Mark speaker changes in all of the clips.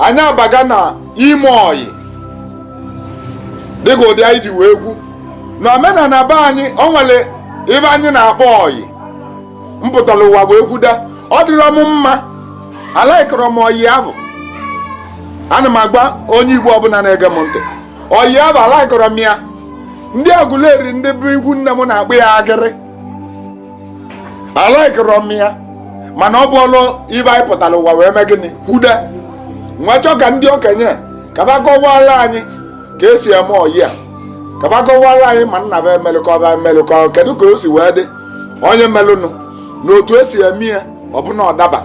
Speaker 1: anyị abaga na ime ọyị dịka ụdị anyị ji wee kwu na omenala be anyị o nwere ive anyị na-akpọ ọyị m pụtara ụwa wee kwudo ọ dịrọ m mma alaikọrọ m ọyị ahụ ana m agwa onye igbo ọbụla na-ege m ntị ọyị ahụ alaikọrọ m ya ndị agụleri ndị bụ ikwu nne m na-akpọ ya agịrị alaikọrọ m ya mana ọ bụrụ ive anyị pụtara ụwa wee mee gịnị kwudo m wee chọọ ka ndị okenye ka va kọwara anyị ka esi eme ọyị a ka va kọwara anyị ma nna va emelụkọ va emelụkọ kedu ka o si wee dị onye melụnụ na otu esi eme ya ọbụna ọ daba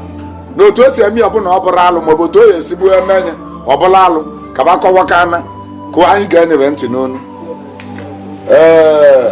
Speaker 1: na otu esi eme ya ọbụna ọ bụrụ alụ maọbụ otu o ya esibu eme ya ọ bụrụ alụ ka va kọwakana ka anyị geenụ va ntị n'ọnụ ee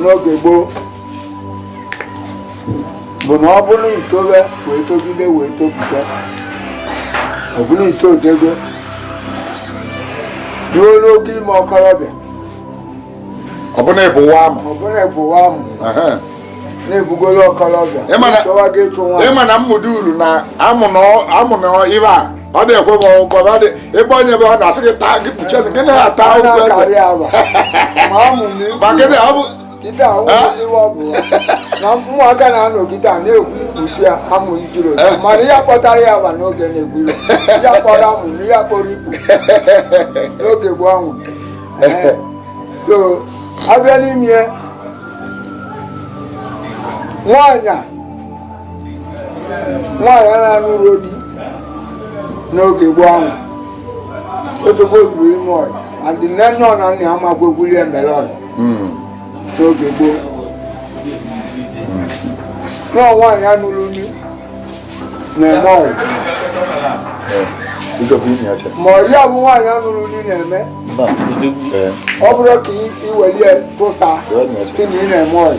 Speaker 2: n'oge gboo bụ na ọ bụrụ i towe wee togide wee topụta ọ bụrụ i to odego ruo n'oge ime
Speaker 1: okorobịa ọ bụrụ na ịbụ nwa amụ ọ bụrụ na ịbụ nwa
Speaker 2: amụ na-ebugoro okorobịa
Speaker 1: ị ma na mmụdị uru na amụ na ive a ọ na-ekwe m ọgwụgwọ ma dị ebe onye ebe ọ na-asị gị taa gị kpuchie gị na-ata Anyị ụgwọ eze na-akarị agba. Ma amụ m ikwu. ma gịnị ọ bụ
Speaker 2: Kịta ahụ Eh? iwe ọ bụ ya. na ụmụaka na-anọgide a na-ekwu ikpuchi ya amụ ijiro Eh. mana ya kpọtara ya agba n'oge na-egbu iro ya kpọrọ amụ na ya kpọrọ ikpu n'oge gboo anwụ Eh. so abịa n'ime ya, nwaanyị a nwaanyị na-anụrọ di n'oge gboo ahụ otobo juru ime ọyị and nne nne ya na nna ya amakwa egwuli emere ọyị Mm. n'oge gboo na ọ nwaanyị nụrụ di na-eme ọyị Eh, Ijọba inye ya che. ma ọyị a bụ nwaanyị nụrụ di na-eme Mba. Eh, ọ bụrọ ka i- i welie pụta jọba inye ya che. sị na ị na-eme ọyị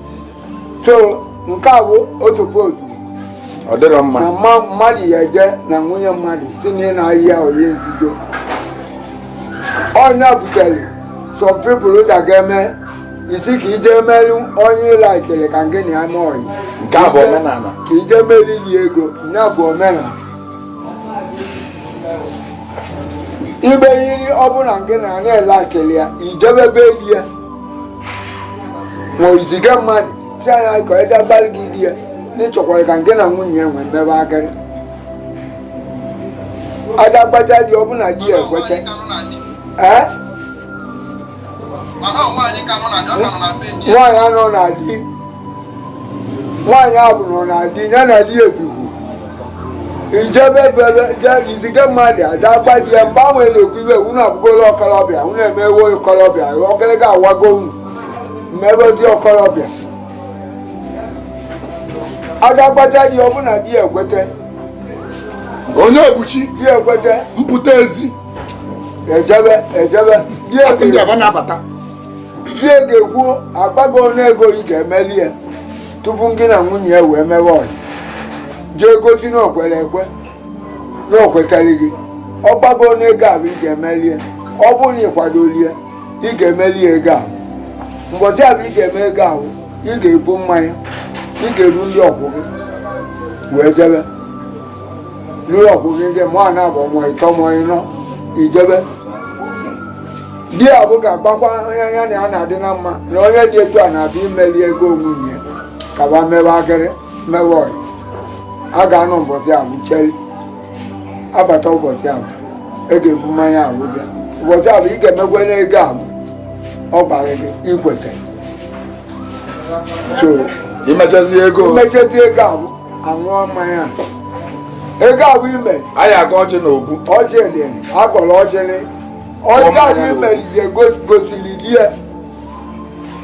Speaker 2: so nke a bụ otu poozu ọ
Speaker 1: dịrọ mma na mma- mmadụ
Speaker 2: ya eje na nwunye mmadụ sị na ị na-ayị ya ọyị nzuzo onye butere some people ụda ga-eme ị sị ka i je meri onye ị laikịrị ka ngị na ya mee ọyị nke a bụ
Speaker 1: omenala ka i je
Speaker 2: merili ego ya bụ omenala ibe yiri ọ bụ na ngị na ya na ị laikịrị ya i jebe be di ya ma i ziga mmadụ sị nya ka e je gwalị gị di ya na ị chọkwara ka ngị na nwunye ya nwee mmebe agịrị ada agbaja dị ọ bụ na di ya ekweta ee nwaanyị anọ na di nwaanyị ahụ nọ na di ya na di ebighị ijebe bebe je izige mmadụ ada gba di ya mgbe ahụ na-ekwu ibe unu abụgola okolobịa unu emewo okolobịa ọgịrịga awago unu mmebe dị okolobịa ada gbaja di ọ bụ na di
Speaker 1: ekwete onye obuchi di ekwete
Speaker 2: mpụta ezi
Speaker 1: ejebe
Speaker 2: ejebe di
Speaker 1: ọkụ ndị ebighị aba na-abata
Speaker 2: bie ga-ekwu agbago ọnụ ego ị ga-emeli ya tupu gị na nwunye ya wee mewe ọyị jee gosi na o kwere ekwe na o kwetara gị ọ gbago ọnụ ego ahụ ị ga-emeli ya ọ bụrụ na ị kwadoli ya ị ga-emeli ya ego ahụ mbọchị ahụ ị ga-eme ego ahụ ị ga-ebu mmanya ị ga-eru ndị ọkwụ gị wee jebe ruru ọkwụ gị gị mọ naabọ mọ ịtọ mọ ịnọ i jebe di ya bụ ga-agwakwa onye ya na ya na-adị na mma na onye dị etu a na-abịa imeli ego nwunye ya ka ba mewe akịrị mewe ọyị a ga-anọ ụbọchị abụ cheri abata ụbọchị abụ ị ga-ebu mmanya abụ bịa ụbọchị abụ ị ga-emekwa n'ego abụ ọ gbara gị i kwete
Speaker 1: so i mechazi ego i mechazi ego abụ
Speaker 2: aṅụọ mmanya ego abụ ime anyị agọ ọjị na
Speaker 1: obu ọjị elele
Speaker 2: agọrọ ọjịlị ọjọ anyị mere ihe gosiri di e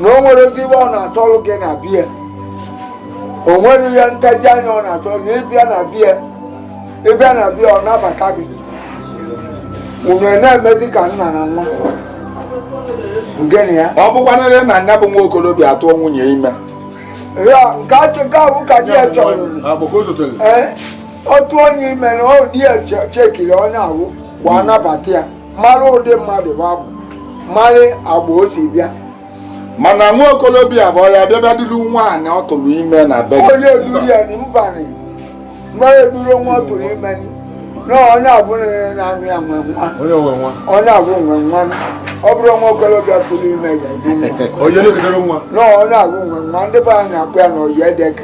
Speaker 2: na o nwere ozi iwe ọ na-achọrụ gị na bie o nwere ihe ntaji anya ọ na-achọ na ị bịa na bie ị bịa na bie ọ nabata gị unu na-emezi ka nna na nwa gịnị ya ọ bụkwana ihe na nya bụ
Speaker 1: nwa okolobịa atụọ nwunye ime ya
Speaker 2: nke ahụ ka bụ ka di ya chọrọ Ọ bụ ka o sotere. ee ọ tụọ ya ime na di ya chekiri onye ahụ wee nabata ya mara ụdị mmadụ bụ abụ mara agbọ o si bịa mana nwa
Speaker 1: okolobịa bụ ya bịa dulu nwaanyị ọ tụrụ ime na be onye e duru ya na
Speaker 2: mbanị mgbe e duru nwa ọ tụrụ ime na onye abụ na-anụ ya nwe nwa onye abụ nwe nwa ọ bụrụ nwa okolobịa tụrụ ime ya ebu nwa na onye abụ nwe nwa ndị be anyị na-akpọ ya na oyi edeke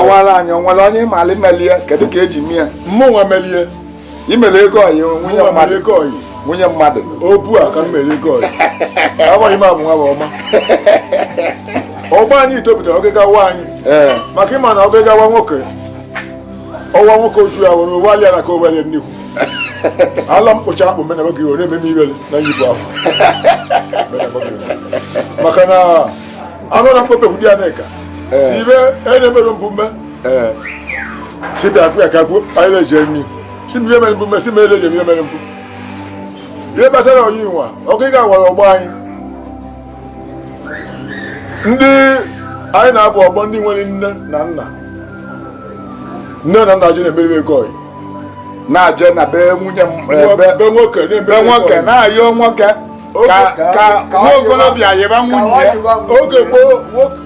Speaker 1: ọwara anyị o nwere onye ị mara imeli ya kedu ka e ji mee ya mụ nwa
Speaker 3: melie i mere
Speaker 1: ego ọyị nwunye nwa mmadụ mere ego ọyị nwunye mmadụ obu a ka m mere
Speaker 3: ego ọyị agbaghị m abụ nwa bụ ọma ọgba anyị topụtara oge gawa anyị ee maka ịma na oge gawa nwoke ọwa nwoke oju ya were ụwa alịa na ka owelie nnekwu ala mkpocha akpụ mena oge ọ na-ememe iwere na nyipụ ahụ maka na anụ na mkpọpe kwudi aneka eh. si ibe enye mere mbụ mme eh. si bịa kwụ ya ka kwuo anyị na-eje nri si mmiri mere mbụ mme si mere eje mmiri mere mbụ ihe gbasara ọyị nwa ọ gị ga-agwara ọgbọ anyị ndị anyị na-abụ ọgbọ ndị nwere nne na nna nne na nna ji na-emeri ego ọyị na-aje
Speaker 1: na be nwunye be nwoke
Speaker 3: na-ayọ nwoke
Speaker 1: ka nwa okorobịa yịba nwunye ya oge
Speaker 3: gboo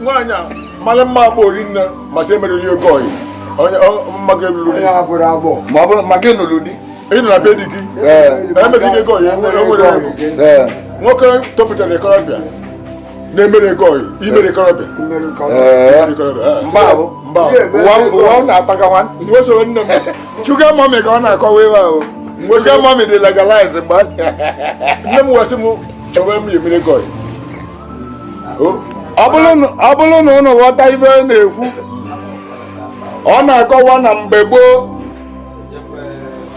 Speaker 3: nwaanyị a mara mma agba ori nne ma asị emeli ego ọyị ma gị lụrụ di ma ọ
Speaker 1: bụrụ ma gị lụrụ di ị nọ na be di
Speaker 3: gị emezighị ego ọyị e nwere nwoke topụtara ikorobịa na-emere ego ọyị imere ikorobịa
Speaker 1: ụwa na-ataga nwa nwesoro nne m
Speaker 3: sugar mummy ka
Speaker 1: ọ na-akọwa ebe ahụ sugar mummy dị legalize mgbe
Speaker 3: nne m wesị m chọwa m emere ego
Speaker 1: ọyị ọ bụrụ na ụnụ ghọta ive ọ na-ekwu ọ na-akọwa na mgbe gboo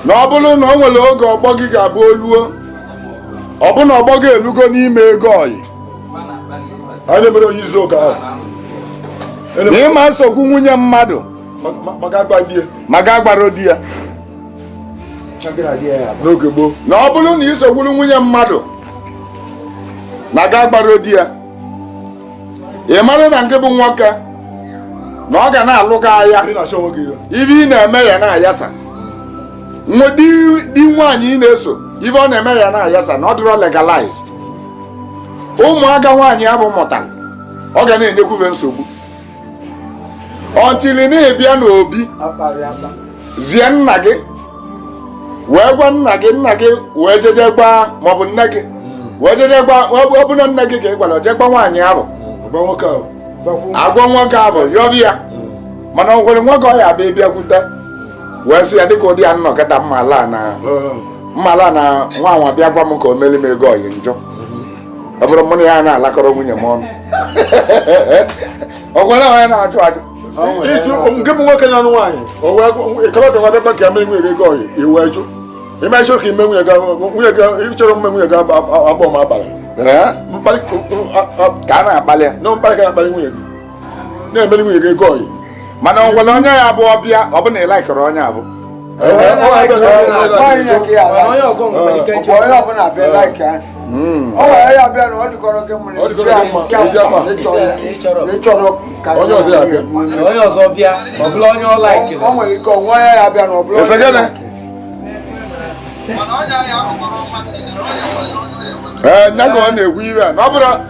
Speaker 1: na ọ bụrụ na o nwere oge agbọghọ ga-abụ o luo ọ bụ na agbọghọ elugo n'ime ego
Speaker 3: ọyị a na-emere onye izu ụka ahụ
Speaker 1: na ị ma nsogbu nwunye mmadụ
Speaker 3: ma gị agbarọ di ya n'oge gboo na ọ bụrụ na i
Speaker 1: sogburu nwunye mmadụ ma gị agbarọ di ya ị mara na nke bụ nwoke na ọ ga na-alụ gị agha ive ị na-eme ya na-ayasa di nwaanyị ị na-eso ive ọ na-eme ya na-ayasa na ọ dịrọ legalized ụmụaka nwaanyị ahụ mụtara ọ ga na-enyekwuve nsogbu until na a bịa n'obi zie nna gị wee gwa nna gị nna gị wee jeje gba maọbụ nne gị hmm. wee jeje gba ọ bụ na nne gị ka ị gwara je gba nwaanyị ahụ hmm, agwa nwoke ahụ yọva ya hmm. mana o nwere nwoke ọ ya-abịa bịakwute wee sị ya dịka ụdị ya nnọkọta mma ala na mma ala na nwa nwa bịa gwa m ka o meri m ego ọyị njọ ọ bụrụ mụ na ya na-alakọrọ nwunye m ọnụ ọ gwụla onye na-achụ achụ nke
Speaker 3: bụ nwoke na-anụ nwaanyị ikorobịa nwa bịakwa ka mere nwunye gị ọyị i wee jụ ime ịchọrọ ka ime nwunye nwunye ị chọrọ mme nwunye gị abụọ mkparị
Speaker 1: ka a na-akpali ya na mkparị ka a na-akpali nwunye gị
Speaker 3: na-emeli nwunye gị ego ọyị mana o nwere
Speaker 1: onye ya bụ ọ bịa ọ bụ na ị likerọ onye
Speaker 2: ahụ ee nya
Speaker 1: ka ọ na-ekwu ive a na ọ bụrụ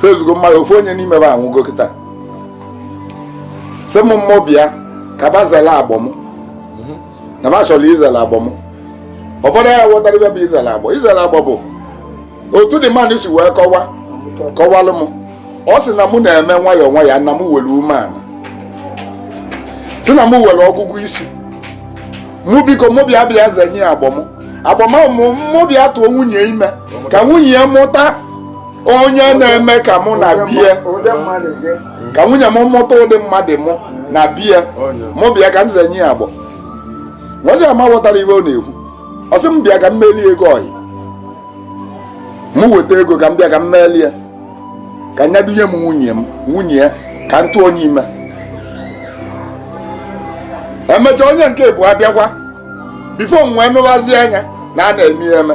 Speaker 1: fezugo mmadụ ofu onye n'ime ba anwụgo kịta sị m mụ bịa ka ba zela agbọ m na ba chọrọ izela agbọ m ụfọdụ ya ghọtara ive bụ izela agbọ izela agbọ bụ otu dị mmadụ si wee kọwa kọwalụ m ọ sị na mụ na-eme nwayọọ nwayọọ na m were umeala si na m were ọgụgụ isi mụ biko mụ bịa bịa zenye ya agbọ m agbọ m mụ bịa tụọ nwunye ime ka nwunye ya mụta onye na-eme ka mụ na bie ka nwunye m mụta ụdị mmadụ mụ na bie mụ bịa ka m zenye ya agbọ nwazi ama ghọtara ive ọ na-ekwu ọ sị m bịa ka m melie ego ọyị m weta ego ka m bịa ka m melie ka nya dunye m nwunye m nwunye ya ka m tụọ nya ime emechaa onye nke ịbụa abịakwa before m wee nụbazie anya na a na-eme ya eme